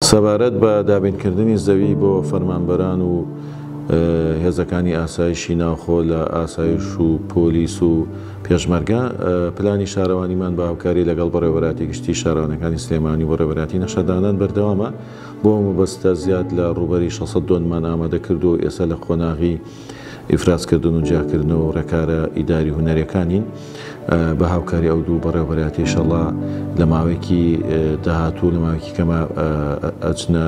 سەبارەت بە دابینکردنی زەوی بۆ فەرمانبەران و هێزەکانی ئاسایشی ناوخۆ لە ئاسایش و پۆلیس و پێشمەرگە، پلانی شارەوانیمان بە هاوکاری لەگەڵ بەڕێوەبەرایەتی گشتیی شارەوانییەکانی سلێمانی و بەڕێوەبەرایەتی نەخشەدانان بەردەوامە، بۆ ئەو مەبەستە زیاد لە ڕووبەری شەش سەد دۆنممان ئامادە کردووە و ئێستا لە قۆناغی. ئیفرازکردن و جیاکردنەوە و ڕێکارە ئیداری و هونەریەکانین بە هاوکاری ئەو دوو بەڕێوبەرایەتی ئیشەڵا لە ماوەیەکی داهاتوو لە ماوەیەکی کەمە ئەچنە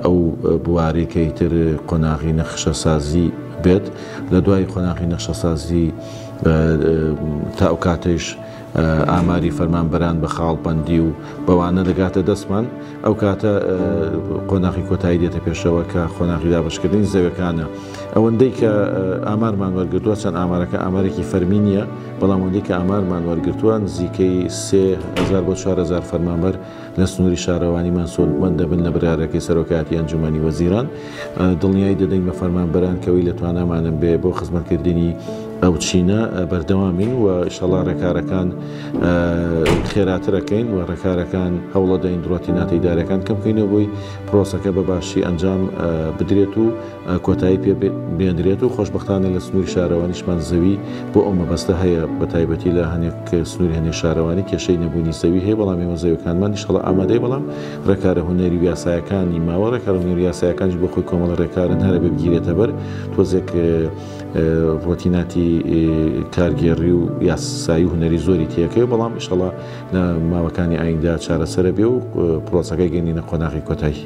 ئەو بوارەی کە ئیتر قۆناغی نەخشەسازی بێت لە دوای قۆناغی نەخشەسازی تا ئەو کاتەیش ئاماری فەرمانبەران بە خاڵبەندی و بەوانە دەگاتە دەستمان ئەو کاتە قۆناخی کۆتایی دێتە پێشەوە کە قۆناخی دابشکردنی زەوەکانە ئەوەندەی کە ئامارمان وەرگتووە چەند ئامارەکە ئامارێکی فەرمی نیە بەڵام ئەوەندەی کە ئامارمان وەرگتووە نزیکەی 3000 بۆ 4000 فەرمانبەر لە سنووری شارەوانی مەنسۆل بەند دەبن لە برارەکەی سەرۆکایەتی ئەنجومەنی وەزیران دڵنیایی دەدەین بە فەرمانبەران کەوەی لە توانامانم بێ بۆ خزمەتکردنی ئەو چینە بەردەوامین و شەڵا ڕێکارەکان خێراترەکەین و ڕێکارەکان هەوڵەدەین دڕۆتیناتەیدارەکان کەم بکەینەوە بۆی پرۆسەکە بە باشی ئەنجام بدرێت و کۆتایی پێ بێنرێت و خۆشبختانە لە سنووری شارەوانیشمان زەوی بۆ ئەو مەبەستە هەیە بە تایبەتی لە هەنێک سنووری هەنێ شارەوانی کێشەی نەبوونی زەوی هەیە بەڵام ئێمە زەوەکانمان نیشتەڵە ئامادەی بەڵام ڕێکارە هوەری یاسایەکانی ماوە ڕێکارە هوەری یاسایەکانش بۆ خۆی کۆمەڵ ڕێکارن هەرە بگیرێتە بەر تۆزێک ڕۆتیناتی کارگێڕی و یاسایی و هوەری زۆری تێەکەی بەڵام ئیشەڵە لە ماوەکانی ئایندا چارەسەرە بێ و پرۆسەکەی گەنینە قۆناغی کۆتایی